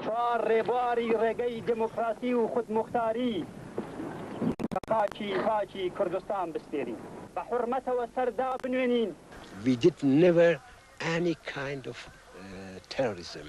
چوار ڕێبواری ڕێگەی دموکراسی و خودمختاری بە خاکی پاکی کوردستان بسپێرین بە حورمەتەوە سەر دابنوێنین. We did never any kind of terrorism.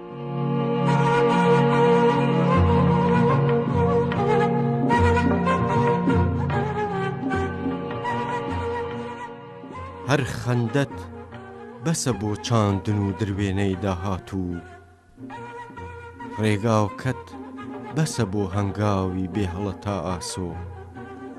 هەر خەندەت بەسە بۆ چاندن و دروێنەی داهاتوو ڕێگاوکەت بەسە بۆ هەنگاوی بێهڵە تا ئاسۆ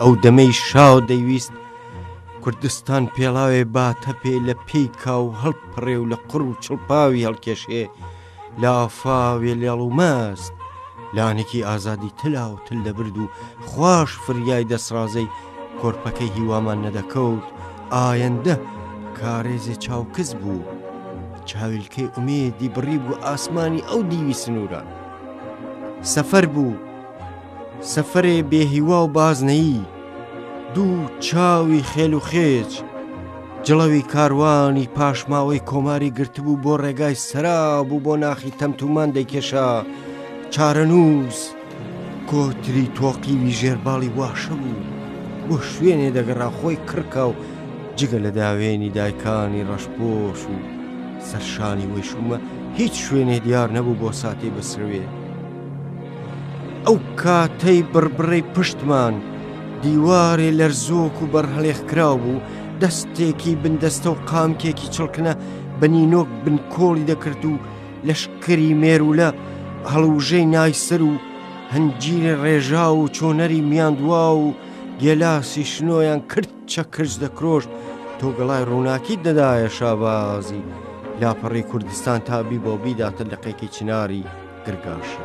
ئەو دەمەی شاو دەیویست کوردستان پێڵاوێ باتە پێ لە پێی کاو هەڵپڕێ و لە قڕ و چڵپاوی هەڵکێشێ لە ئافاوێ لێڵ و مەست لانێکی ئازادی تلا و تل دەبرد و خوش فریای دەسڕازەی کۆرپەکەی هیوامان نەدەکەوت ئایەندە کارێزێ چاوکز بوو چاویلکەی ئومێدی بڕی بوو ئاسمانی ئەو دیوی سنووران سەفەر بوو سەفەرێ بێ هیوا و بازنەیی دوو چاوی خێل و خێچ جڵەوی کاروانی پاشماوەی کۆماری گرتبوو بۆ ڕێگای سەرا بوو بۆ ناخی تەمتومان دەیکێشا چارەنووس کۆتری تۆقیوی ژێرباڵی واشە بوو بۆ شوێنێ دەگەڕا خۆی کڕکا و جگە لە داوێنی دایکانی ڕەشپۆش و سەرشانی وەیشومە هیچ شوێنێ دیار نەبوو بۆ ساتی بسروێت ئەو کاتەی بڕبڕەی پشتمان دیوارێ لەرزۆک و بەرهەڵێخکراو بوو دەستێکی بندەستە و قامکێکی چڵکنە بە نینۆک بنکۆڵی دەکرد و لەشکری مێرولە هەڵوژەی نایسەر و هەنجیرە ڕێژا و چۆنەری میاندوا و گێلاسی شنۆیان کرد چەکرج دەکرۆژ تۆگەڵای ڕووناکی دەدایە شابازی لاپەڕی کوردستان تابی بۆ بیداتە لەقێکی چناری درگاشە.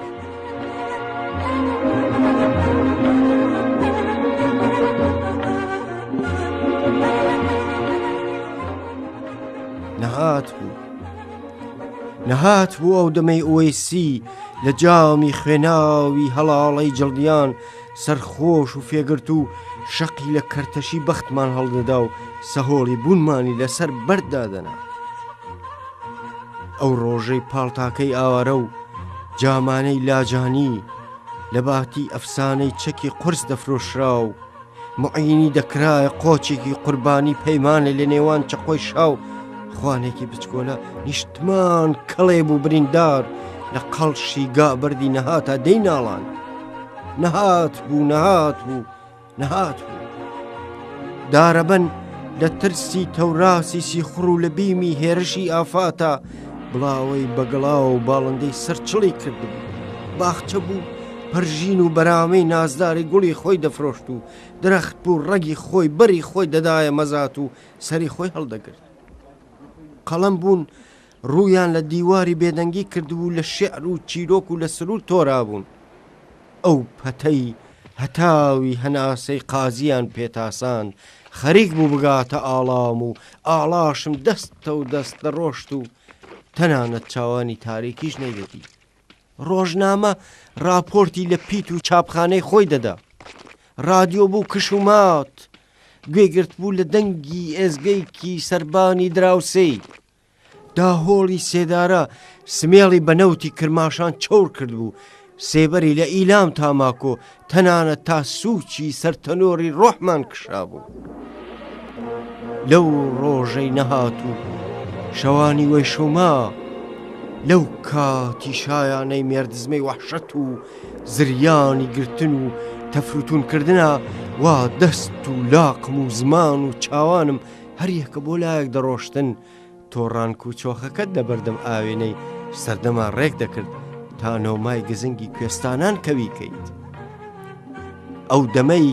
نەهات بوو نەهات بوو ئەو دەمەی ئۆیسی لە جامی خوێناوی هەڵاڵەی جڵدیان سەرخۆش و فێگرتوو شەقی لە کەرتەشی بەختمان هەڵدەدا و سەهۆڵی بوونمانی لەسەر بەرد دادەنا. ئەو ڕۆژەی پاڵتاکەی ئاوارە و جامانەی لاجانی لە باتی ئەفسانەی چەکی قرس دەفرۆشرا و معینی دەکرایە قۆچێکی قوربانی پەیمانە لە نێوان چەقۆی شاو خوانێکی بچکۆلە نیشتمان کەڵێ بوو بریندار لە قەڵشی گابردی نەهاتا دەی ناڵاند. نەهاتبوو نەهاتبوو نەهاتبوو دارەبەن لە ترسی تەوراسی سیخڕ و لە بیمی هێرشی ئافاتە بڵاوەی بەگەڵا و باڵندەی سەرچڵی کردبوو باخچە بوو پەرژین و بەرامەی نازداری گوڵی خۆی دەفرۆشت و درەخت بوو ڕەگی خۆی بەری خۆی دەدایە مەزات و سەری خۆی هەڵدەگرت قەڵم بوون ڕوویان لە دیواری بێدەنگی کردبوو و لە شیعر و چیرۆک و لە سروود تۆرابوون. ئەو پەتەی هەتاوی هەناسەی قازییان پێتاساند، خەریک بوو بگاتە ئاڵام و ئاڵاشم دەستەو دەست دەڕۆشت و تەنانەت چاوانی تاریکیش نەیدەدی. ڕۆژنامە ڕاپۆرتی لە پیت و چاپخانەی خۆی دەدا. ڕادیۆ بوو کش و مات، گوێگرتبوو لە دەنگی ئێزگەیەکی سەربانی دراوسێی. داهۆڵی سێدارە سمێڵی بە نەوتی کرماشان چۆڕ کردبوو، سێبەری لە ئیلام تاماکۆ تەنانە تا سوچی سەرتەنۆری ڕۆحمان کشابوو. لەو ڕۆژەی نەهات و شەوانی وەی شوما، لەو کاتی شایانەی مێردزمەی وەحشەت و زریانی گرتن و تەفروتونکردە وا دەست و لاقم و زمان و چاوانم هەریەک کە بۆ لایەک دەڕۆشتن تۆڕانک و چۆخەکەت لە بەردەم ئاوێنەی سەردەما ڕێک دەکرد تا نۆمای گزنگی کوێستانان کەوی کەیت ئەو دەمەی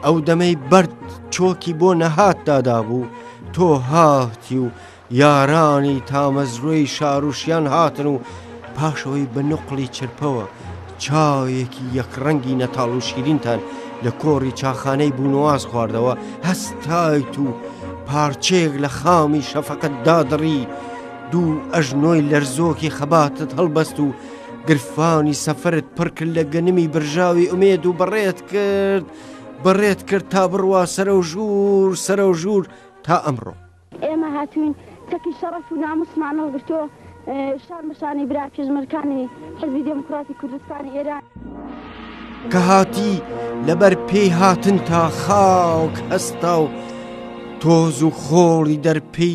ئەو دەمەی بەرد چۆکی بۆ نەهات دادابوو تۆ هاتی و یارانی تامەزرۆی شاروشیان هاتن و پاش ئەوەی بە نوقڵی چرپەوە چایەکی یەکڕەنگی نەتاڵ و شیرینتان لە کۆڕی چاخانەی بوونواز خواردەوە هەستایت و پارچەیەک لە خامی شەفقەت دادڕی دوو ئەژنۆی لەرزۆکی خەباتت هەڵبەست و گرفانی سەفرت پڕکرد لە گەنمی برژاوی ئومێد و بەڕێت کرد بەڕێت کرد تا بڕوا سەرە و ژوور سەرە و ژوور تا ئەمڕۆ. ئێمە هاتووین چەکی شەڕەف و ناموسمان هەڵگرتووە شان بە شانی برا پێشمەرکانی حزبی دێموکراتی کوردستانی ئێران. کە هاتی لەبەر پێی هاتن تا خاوک هەستا و تۆز و خۆڵی دەرپی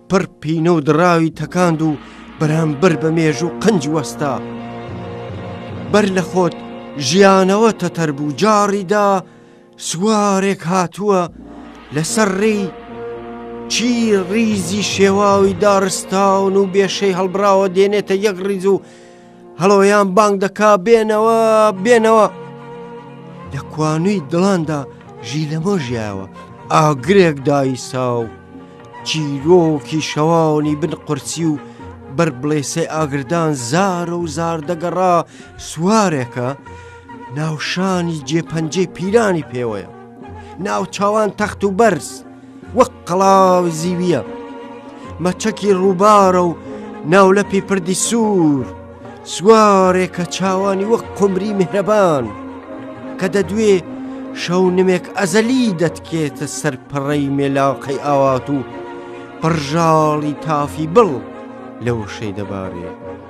پڕ پینە و دراوی تەکاند و بەرامبەر بە مێژ و قنج وەستا بەر لە خۆت ژیانەوە تەتەر بوو جاڕیدا سوارێک هاتووە لەسەر ڕێی چی ڕیزی شێواوی داڕستاون و بێشەی هەڵبراوە دێنێتە یەک ڕیز و هەڵۆیان بانگ دەکا بێنەوە بێنەوە لە کوانووی دڵاندا ژی لەمە ژیاوە ئاگرێک دایسا و چیرۆکی شەوانی بن قورسی و بەر بڵێسەی ئاگردان زارە و زار دەگەڕا سوارێکە ناوشانی جێپەنجەی پیرانی پێوەیە ناو چاوان تەخت و بەرز وەک قەڵاو زیویە مەچەکی ڕووبارە و ناولەپی پردی سوور سوارێکە چاوانی وەک قمری میهرەبان کە دەدوێ شەو نمێک ئەزەلی دەتکێتە سەر پەڕەی مێلاقەی ئاوات و پڕژاڵی تافی بڵ لە وشەی دەبارێ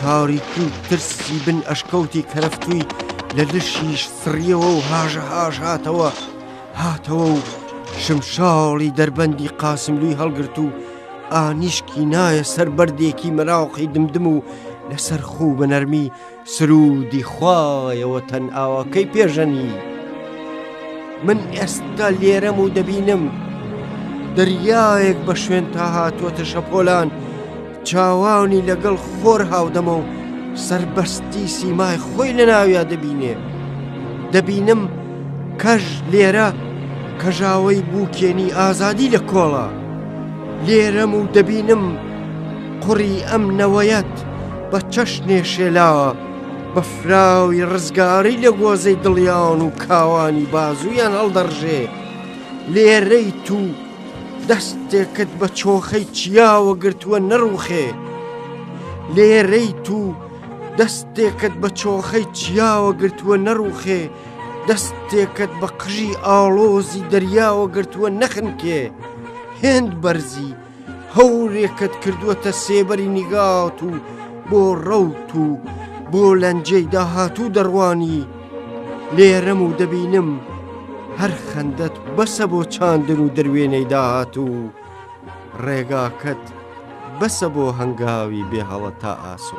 تاریکی و ترسی بن ئەشکەوتی کەرەفتووی لە لشیش سڕیەوە و هاژەهاژ هاتەوە هاتەوە و شمشاڵی دەربەندی قاسملووی هەڵگرت و ئانیشکی نایە سەر بەردێکی مەراوحی دمدم و لەسەر خوو بە نەرمی سروودی خوایەوە تەن ئاواکەی پێژەنی من ئێستا لێرەم و دەبینم دەریایەک بە شوێن تا هاتووەتە شەپۆلان چاوانی لەگەڵ خۆر هاودەمە و سربەستی سیمای خۆی لە ناویا دەبینێ دەبینم کەژ لێرە کەژاوەی بووکێنی ئازادی لە کۆڵە لێرەم و دەبینم قڕی ئەم نەوەیەت بە چەشنێ شێلاوە بە فراوی ڕزگاری لە گۆزەی دڵیاون و کاوانی بازوویان هەڵدەڕژێ لێرەی تو دەستێکت بە چۆخەی چیاوە گرتووە نەڕوخێ لێرەی تو دەستێکت بە چۆخەی چیاوە گرتووە نەڕوخێ دەستێکت بە قژی ئاڵۆزی دەریاوە گرتووە نەخنکێ هێند بەرزی هەورێکت کردووەتە سێبەری نیگات و بۆ ڕەوت و بۆ لەنجەی داهاتوو دەڕوانی لێرەم و دەبینم هەر خەندەت بەسە بۆ چاندن و دروێنەی داهات و ڕێگاکەت بەسە بۆ هەنگاوی بێ هەڵە تا ئاسۆ.